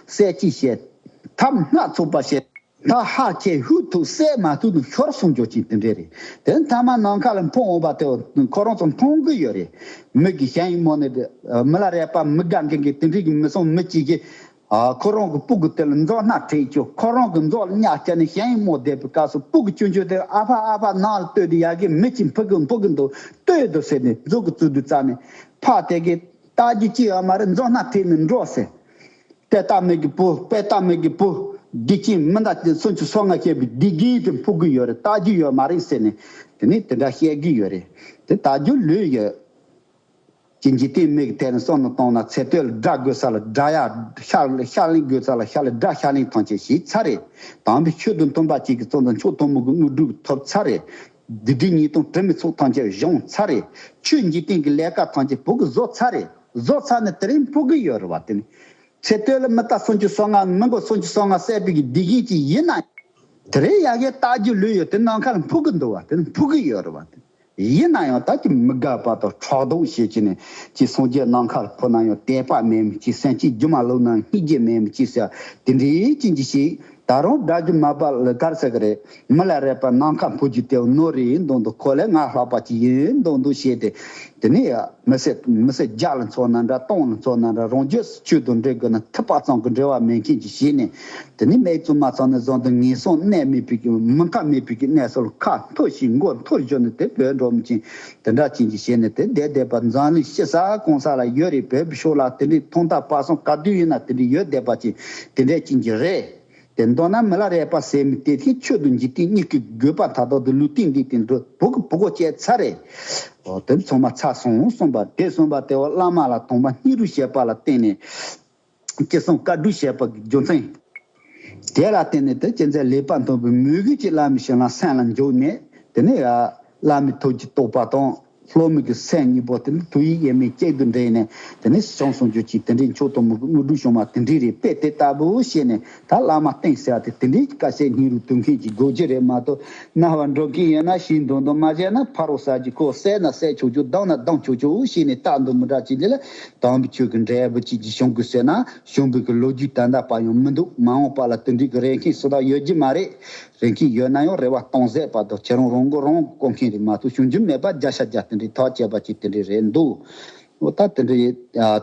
གསལ་གྱིས་བཤད། ཐབས་སྣ་ཚོགས་པ་བཤད། ད་ཧ་ཁྱེད་ཧུད་ཐུག་གསལ་མ་ཐུག་ནི་ཤོར་སོང་འགྱོ་ཅིག་དེ་འདྲས་རེད་དེ་མཐའ་མ་ནང་ཁ་ལ་འཕོང་འོང་བ་དེ་ཁོ་རང་ཚོ་མཐོང་གི་ཡོད་རེད་མི་གི་གཞན་ཡིན་མོ་ནི་མི་ལ་རས་པ་མི་དགའ་མཁན་གི་དེ་འདྲས་གི་མི་སོང་མི་གཅིག་གི་ཁོ་རང་གི་སྤུ་གི་དེ་ལ་མཛོ་སྣ་ཁྲིད་ཅོ་ཁོ་རང་གི་མཛོ་ལ་སྙ་སྐྱ་ནི་གཞན་ཡིན་མོ་བསྡད་པའི་སྐབས་སུ་སྤུ་གི་ཅོ་མཆུ་དེ་ཨ་ཕ་ཨ་ཕ་ནང་ལ་ལྟོས་དུ་ཡ་གི་མི་གཅིག་འཕུག་གི་འཕུག་གི་འདུག་ལྟོས་དུ་ཟེར་ནས་མཛོ་གི་རྩུ་དུ་བཙགས་ནས་ཕ་དེ་གི་ལྟ་རྒྱུ་ཅི་ཡང་མ་རེད་མཛོ་སྣ་ཁྲིད་ནས་འགྲོ་ཟེར་དཔལ་རྟགས་མེད་ཀྱི་བུ་དཔལ་རྟགས་མེད་ཀྱི་བུ། བདེ་སྐྱིད་མི་འདྲ་དེ་ཚོ་ཚོ་ང་བཤད་པའི་བདེ་སྐྱིད་དེ་འཕོག་གི་ཡོད་རེད་བལྟ་རྒྱུ་ཡོད་མ་རེད་ཟེར་ནས་དེ་ནས་དེ་འདྲ་བཤད་ཀྱི་ཡོད་རེད་དེ་བལྟ་རྒྱུ་ལོས་ཡོད། ཀྱི་འཇིག་རྟེན་མིག་དེ་རིང་སོག་ནང་གཏོང་ན་ཚེ་སྟོད་ལ་སྒྲ་དགོས་ས་ལ་སྒྲ་ཡ་ཤ་ཤ་གླིང་དགོས་ས་ལ་ཤ་ལ་སྒྲ་ཤ་གླིང་ཐང་ཆད་ཞེས་ཚར་རེད་དམ་པའི་ཆོས་དུང་སྟོན་པ་གཅིག་གི་གཙོ་མདའ་མཆོག་གཏོང་མུ་གུ་དངོས་གྲུབ་ཐོབ་ཚར་རེད་བདུད་སྡེ་ཉིས་སྟོང་དྲི་མེད་ཚོགས་ཐམས་ཅད་གཞོང་ཚར་རེ། ཆོས་འཇིག་རྟེན་གྱི་ལས་ཀ་ཐམས་ཅད་བུ་གུ་བཟོ་ཚར་རེ། བཟོ་ཚར་ནས་དེ་རིང་ཕུག་གི་ཡོད་རེ་བ་དེ་ནི། ཚེ་སྟོད་ལ་མི་རྟ་སུམ་ཅུ་སོ་ལྔ་མི་མགོ་སུམ་ཅུ་སོ་ལྔ་བསད་པའི་དགེ་རྒན་ཅིག་ཡིན་ན། དེ་རིང་ཡ་གའི་རྟ་རྒྱུག་ལུས་ཡོད་དེ་ནམ་མཁའ་ལ་འཕུར་གི་འདུག་བ་དེ་ནི་ཕུག་གི་ཡོད་རེ་བ་དེ་ནི། ཡིན་ན་ཡང་ད་ཀྱི་མི་དགའ་བ་དང་ཁྲག་རྡུང་ཞེས་བྱས་ནས་ཅིག་སོང་རྗེས་ནམ་མཁའ་ལ་འཕུར་ན་ཡང་དད་པ་མེད་མི་ཅིག་སེམས་ཅིག་རྒྱུ་མ་ལུག་ན་སྙིང་རྗེ་མེད་མི་ཅིག་ཟེར་བ་དེ་འདྲའི་རྐྱེན་གྱིས་ཤིག། ད་རུང་སྒྲ་རྒྱུ་མ་པ་ལི་ཐར་ཟེར་གི་རེད་མི་ལ་རས་པ་ནམ་མཁའ་འཕུར་རྒྱུ་དེ་རྣོ་རིགས་ཡིན་མདོག་འདུག་གོ་ལའི་ངར་ལྷག་པ་ཅིག་ཡིན་མདོག་འདུག་བྱས་ཏེ། དེ་ནས་མི་སེར་མི་སེར་བརྒྱ་ལ་འཚོགས་ན་འདྲ་སྟོང་ལ་འཚོགས་ན་འདྲ་རང་རྒྱུད་སུ་ཆོས་དང་འབྲེལ་དགོས་ན་ཐུབ་པ་ཙམ་གྱི་འབྲེལ་བ་མེད་མཁན་གྱི་བྱས་ནས་དེ་ནས་མེད་ཙམ་མ་ཚང་ན་བཟང་དུ་ངན་སོང་གནས་མེད་བུ་གི་མི་མཁའ་མེད་བུ་གི་གནས་སོ་ལ་ཁ་འཐོར་ཞིག་མགོ་འཐོར་བཞོ་ནི་དེ་བོད་འགྲོ་མི་ཆེན་དེ་འདྲ་བྱིན་གྱིས་བྱས་ནས་དེ་བསྡད་བསྡད་པར་མཛངས་ལུས་ཤེ་ས་གོང་ས་ལ་ཡོད་རེད་བོད་ཤོག་ལ་དེ་འདྲའི་ཐོག་མཐའ་བར་གསུམ་དཀའ་སྡུག་ཡིན་ན་དེ་འདྲའི་ཡོད་བསྡད་པ་ཅིག་དེ་འདྲས་བྱིན་གྱིས་རེད་དེ་མདོར་ན་མི་ལ་རས་པ་ཟེར་མི་དེ་ཐེངས་ཆོད་དུ་འཇིག་རྟེན་གཉིས་ཀྱི་དགོས་པ་དག་དོར་དུ་ལུས་སྟེང་འདི་དེ་འདྲའི་བུ་གི་བུ་གོ་བཅད་ཚར་རེད། འོ་དེ་ཚོ་མ་ཚར་སོང་གསུངས་པ་དེ་གསུངས་པ་དེ་འོ་བླ་མ་ལ་དོང་པ་སྙིང་རུས་བཤད་པ་ལ་བརྟེན་ནས། བཅད་གསུམ་བཀའ་བསྡུ་བྱས་པ་རྒྱུ་མཚན། དེ་ལ་བརྟེན་ནས་དེ་སྐྱེད་མཛད་ལེགས་པར་འདོན་པའི་མོས་གུས་ཀྱིས་བླ་མའི་ཞལ་རྣམས་སེམས་ལ་འཇོག་ནས་དེ་ནས། བླ་མའི་ཐུགས་ཀྱི་རྟོགས་པ་དང་ལྷོ་མོ་གི་སེམས་གཉིས་པོ་དེ་ནི་ཐུགས་ཡིད་ཡེ་མེད་གཅིག་ཏུ་འདྲེས་ནས་དེ་ནས་ཞི་འཕྱང་ཟུང་འཇུག་ཅིག་དེ་འདྲའི་མཆོག་གཏུམ་མོའི་དངོས་གྲུབ་བྱུང་བ་དེ་འདྲའི་རེད་པས་དེ་ལྟ་བུ་ཤེས་ནས། ད་བླ་མ་སྟེང་བསལ་ཏེ་དེ་འདྲའི་དཀའ་སེལ་སྙིང་རུས་དུལ་མཁན་གྱི་དགོས་རྒྱུ་རེད་མ་གཏོགས་རྣ་བར་འགྲོ་མཁན་ཡོད་ན་ཤིང་སྡོང་དུ་མ་བཞད་ན་ཕ་རོག་ཟ་རྒྱུ་ཁོ་བསད་ན་བསད་ཆོག་ཆོག་སྡང་ན་སྡང་ཆོག་ཆོག་བྱས་ནས་རྟག་འདུག་མི་དྲག་ཅིག་ལས་ལ་དམ་པོ་ཆོས་ཀྱི་འབྲས་བུ་གཅིག་གིས་ཤོང་དགོས་ཟེར་ན་ཤོང་དགོས་ཀྱི་ལོ་རྒྱུས་དང་དག་པ་ཡང་མི་འདུག་མ་འོངས་པ་ལ་དེ་འདྲའི་གི་རེ་མཁན་སུ་དག་ཡོད་རྒྱུ་མ་རེད། རེ་མཁན་ཡོད་ན་ཡང་རེ་བ་གཏོང་ཟད་པ་དང་ཁྱེད་རང་རང་མགོ་རང་སྐོར་མཁན་རེད་མ་གཏོགས་བྱུང་རྒྱུ་མེད་པ་རྒྱ་ཤ་རྒྱ་དེ་འདྲའི་ཐག་བཅད་པ་གཅིག་དེ་འདྲའི་རེད་འདུག་ཨོ་ད་དེ་འདྲའི་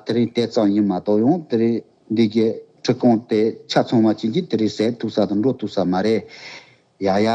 དེ་རིང་དེ་ཙམ་ཡིན་མ་གཏོགས་ཡང་དེ་རིང། འདི་སྐད་ཁྲི་སྟོང་སྟེ་ཆ་ཚང་བ་བྱིན་གྱིས་དེ་རིགས་ཟས་འཐུག་ས་དང་འགྲོ་འཐུག་ས་མ་རེད། ཡ་ཡ།